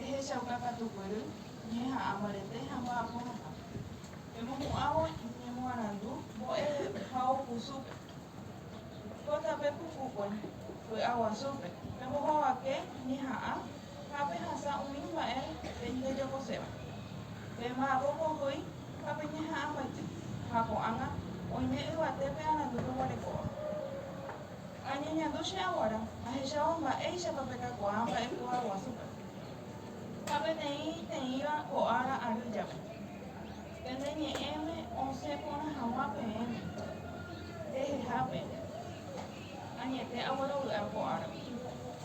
Ehechauka katu guéry ñeha'ã mbarete ha mba'apohasa. Emohu'ãvo iñemoarandu mbo'ehaó kusúpe. Ko tape pukukue vy'aguasúpe pembohovake ñeha'ã ha pehasa umi mba'e pendejokoséva. Pemba'apo pohýi ha peñeha'ãmbaite ha ko'ág̃a oime yvate pe'arandu peguarekóva. Añeñandu che aguara ahechávo mba'éichapa pekakuaa mba'ekuaa guasúpe. Ha peteĩ teĩva ko ára ary jape, pende ñe'ẽme osẽ porã hag̃ua peẽme, pehehápe, añete aguerovy'a ko árape.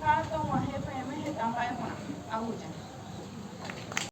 ha tog̃uahẽ peẽme heta mba'e porã. Abuja.